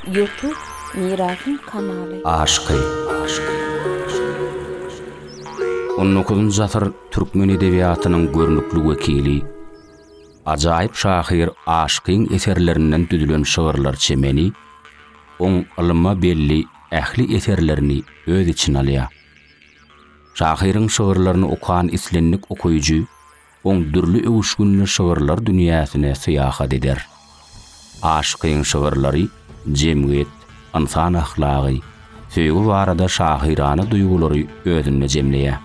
Youtube Mirasym kanaly. Aşky. On dokuzynjy asyr türkmen edebiýatynyň görnükli wekili, ajaýyp şahyr Aşkyň eserlerinden düzülen şygyrlar çemeni oň ylyma belli ähli eserlerini öz içine alýar. Şahyryň şygyrlaryny okan islendik okaýjy Oň dürli öwüşginli şygyrlar dünýäsine syýahat eder. Aşykyň şygyrlary jemgyýet, ynsan ahlagy, söýgi barada şahyrana duýgulary özünde jemleýär.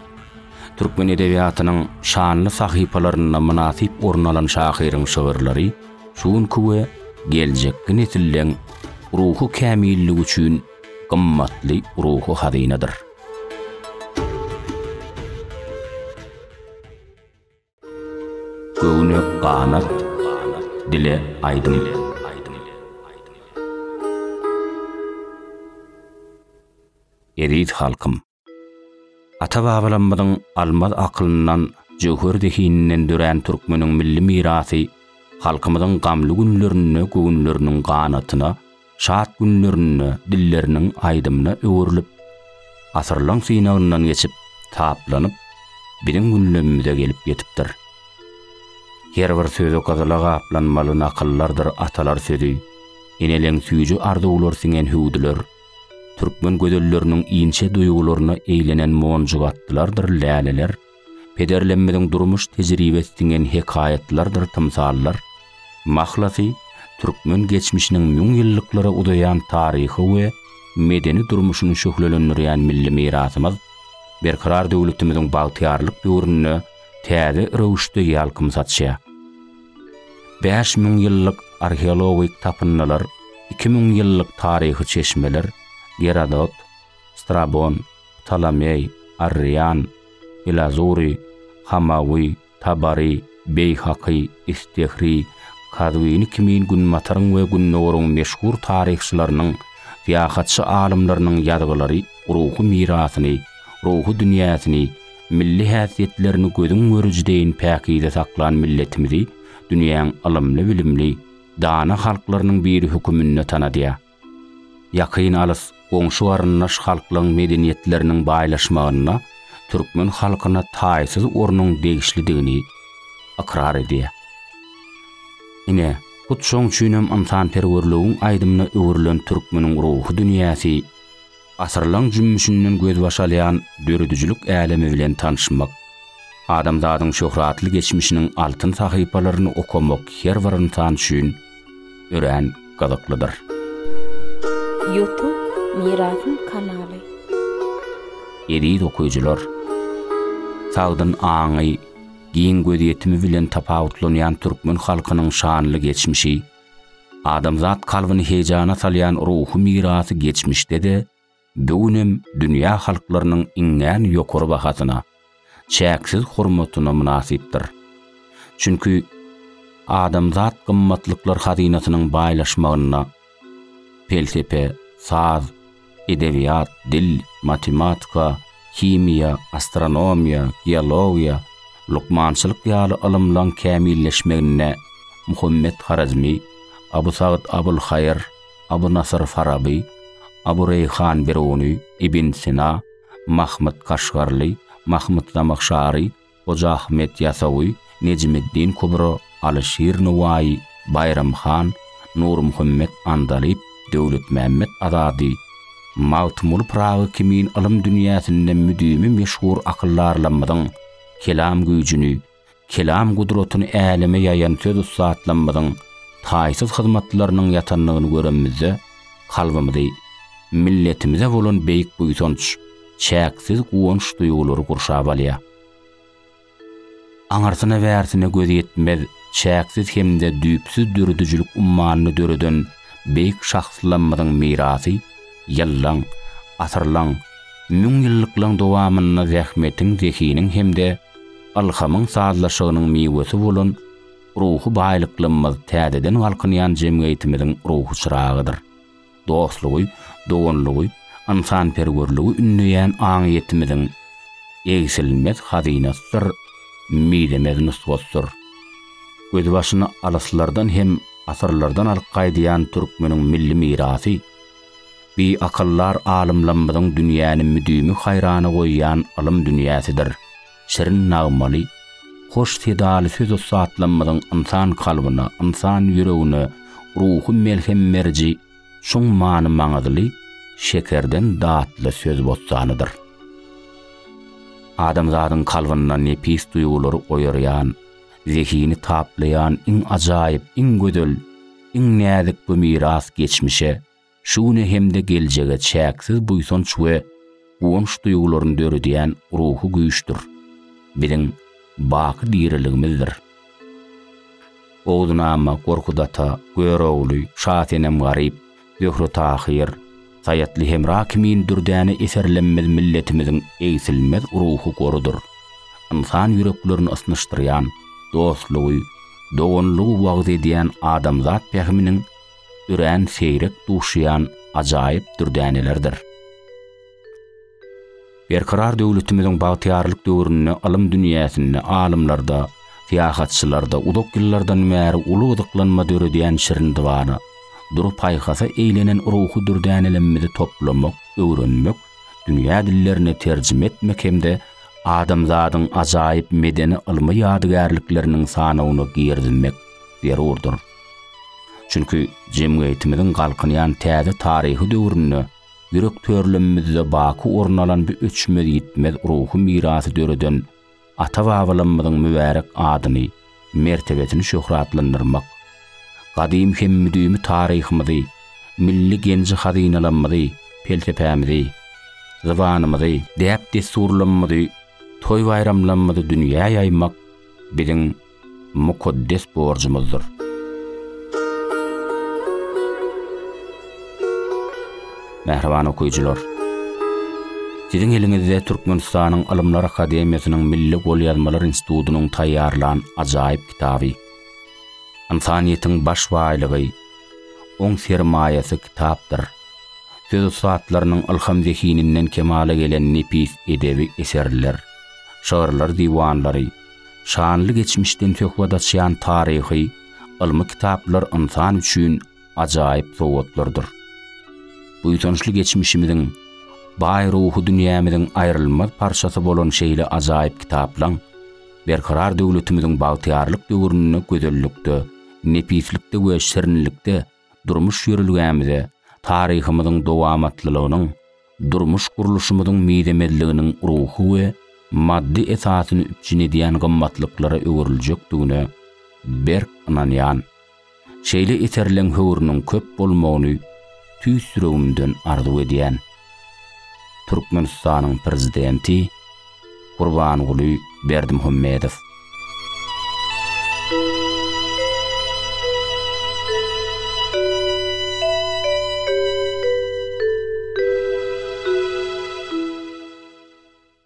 Türkmen edebiýatynyň şanly sahypalarynda mynasyp orun alan şahyryň şygyrlary şu günki we geljekki nesilleň ruhy kämilligi üçin gymmatly ruhy hazynadyr. Göwne ganat, dile aýdym. Eziz halkym! Ata-babalarymyzyň almaz akylyndan, jöwher zehininden dörän türkmeniň milli mirasy halkymyzyň gamly günlerinde göwünleriniň ganatyna, şat günlerinde dilleriniň aýdymyna öwrülip, asyrlaň synagyndan geçip, taplanyp, biziň gündemimize gelip ýetipdir. Her bir sözi gyzyla gaplanmaly nakyllardyr atalar sözi, eneleň süýji arzuwlar siňen hüwdüler, türkmen gözelleriniň inçe duýgularyna eýlenen monjugatdylardyr läleler, pederlerimiziň durmuş tejribesi siňen hekaýatlardyr tymsallar, mahlasy, türkmen geçmişiniň müň ýyllyklara uzaýan taryhy we medeni durmuşyny şöhlelendirýän milli mirasymyz Berkarar döwletimiziň bagtyýarlyk döwründe täze röwüşde ýalkym saçýar. Bäş müň ýyllyk arheologik tapyndylar, iki müň ýyllyk taryhy çeşmeler, Gerodot, Strabon, Ptolomeý, Arrian, Ilazury, Hamawy, Tabary, Beýhaky, Istehri, Kazwini kimin Günbataryň we Gündogaryň meşhur taryhçylarynyň, syýahatçy alymlarynyň ýazgylary ruhy mirasyny, ruhy dünýäsini, milli häsiýetlerini gözüň görüji deýin päkize saklan milletimizi dünýäň ylymly-bilimli, dana halklarynyň biri höküminde tanadýar. Ýakyn-alys goňşy-garyndaş halklaryň medeniýetleriniň baýlaşmagynda türkmen halkyna taýsyz ornuň degişlidigini ykrar edýär. Ine, hut şoň üçinem ynsanperwerligiň aýdymyna öwrülen türkmeniň ruhy dünýäsi, Asyrlaň jümmüşinden gözbaş alýan döredijilik älemi bilen tanyşmak, adamzadyň şöhratly geçmişiniň altyn sahypalaryny okamak her bir ynsan üçin örän gyzyklydyr. Youtube Mirasym kanaly. Eziz okyjylar! Sagdyn aňy, giň gözýetimi bilen tapawutlanýan türkmen halkynyň şanly geçmişi, Adamzat kalbyny heýjana salýan ruhy mirasy geçmişde-de, bu gün hem dünýä halklarynyň iňňän ýokary bahasyna, çäksiz hormatyna mynasypdyr. Çünki adamzat gymmatlyklar hazynasynyň baýlaşmagynda pelsepe, saz, edebiýat, dil, matematika, himiýa, astronomiýa, geologiýa, lukmançylyk ýaly ylymlaň kämilleşmeginde Muhammet Horezmi, Abu Sagyt Abulhaýyr, Abu Nasyr Faraby, Abu Reýhan Biruny, Ibn Sina, Mahmyt Kaşgarly, Mahmyt Zamahşary, Hoja Ahmet Ýasawy, Nejmiddin Kubro, Alyşir Nowaýy, Baýram han, Nurmuhammet Andalyp, Döwletmämmet Azady, Magtymguly Pyragy kimin ylym dünýäsinde müdimi meşhur akyldarlarymyzyň kelam güýjüni, kelam gudratyny äleme ýaýan söz ussatlamyzyň taýsyz hyzmatlarynyň ýatandygyny göremizde kalbymyzy milletimize bolan beýik buýsanç, çäksiz guwanç duýgulary gurşap alýar. Aňyrsyna-bärsine göz ýetmez çäksiz hem-de düýpsüz döredijilik ummanyny döreden beýik şahslamyzyň mirasy ýyllaň, asyrlaň, müňýyllyklaň dowamynda zähmetiň, zehiniň hem-de ylhamyň sazlaşygynyň miwesi bolan ruhy baýlyklarymyz täzeden galkynýan jemgyýetimiziň ruhy çyragydyr. dostlugy, doganlygy, ynsanperwerligi ündeýän aňyýetimiziň egsilmez hazynasydyr, mizemez nusgasydyr. Gözbaşyny alyslardan hem asyrlardan alyp gaýdýan türkmeniň milli mirasy, bi akyldar alymlamyzyň dünýäni müdimi haýrana goýýan ylym dünýäsidir. şirin nagmaly, hoş sedaly söz ussatlarymyzyň ynsan kalbyna, ynsan ýüregine ruhy melhem beriji çuň many-maňyzly, şekerden datly söz bossanydyr. Adamzadyň kalbynda nepis duýgulary oýarýan, zehini taplaýan iň ajaýyp, iň gözel, iň näzik bu miras geçmişe, şu güne hem-de geljege çäksiz buýsanç we guwanç duýgularyny döredýän ruhy güýçdür, biziň baky diriligimizdir. Oguzynama, Gorkut ata, Görogly, Şasenem Garyp, Zöhre Tahyr, Saýatly Hemra kimin dürdäne eserlemmiz milletimiziň egsilmez ruhy gorudyr, ynsan ýüreklerini ysnyşdyrýan, dostlugy, doganlygy wagyz edýän adamzat pähiminiň örän seýrek duşýan ajaýyp dürdänelerdir. Berkarar döwletimiziň bagtyýarlyk döwründe ylym dünýäsinde alymlarda, syýahatçylarda uzak ýyllardan bäri uly gyzyklanma döredýän şirin dybana, dur paýhasa eýlenen ruhy dürdänelemmizi toplamak, öwrenmek, dünýä dillerine terjime etmek hem-de adamzadyň ajaýyp medeni-ylmy ýadygärlikleriniň sanawyna girizmek zerurdyr. Çünki jemgyýetimiziň galkynýan täze taryhy döwründe ýürek törlemimizde baky orun alan bu öçmez-ýitmez ruhy mirasy döreden ata-babalamyzyň mübärek adyny, mertebesini şöhratlandyrmak, gadymy hem müdimi taryhymyzy, milli genji-hazynalamyzy, pelsepämizi, zybanymyzy, däp-dessurlamyzy, toý-baýramlamyzy dünýä ýaýmak biziň mukaddes borjumyzdyr. Mähriban okyjylar! Siziň eliňizde Türkmenistanyň Ylymlar akademiýasynyň Milli golýazmalar institutynyň taýýarlan ajaýyp kitaby, Ynsanyýetiň baş baýlygy, oň sermaýasy kitapdyr. Söz ussatlarynyň ylham-zehininden kemala gelen nepis edebi eserler, şygyrlar diwanlary, Şanly geçmişden söhbet açýan taryhy, ylmy kitaplar ynsan üçin ajaýyp sowgatlardyr. Buýsançly geçmişimiziň, baý ruhy dünýämiziň aýrylmaz parçasy bolan şeýle ajaýyp kitaplaň Berkarar döwletimiziň bagtyýarlyk döwründe gözellikde, nepislikde we şirinlikde, durmuş ýörelgämize, taryhymyzyň dowamatlylygynyň, durmuş gurluşymyzyň mizemezliginiň ruhy we maddy esasyny üpjün edýän gymmatlyklara öwrüljekdigine berk ynanýan şeýle eserleň höwrüniň köp bolmagyny tüýs ýüregimden arzuw edýän. Türkmenistanyň Prezidenti Gurbanguly Berdimuhamedow.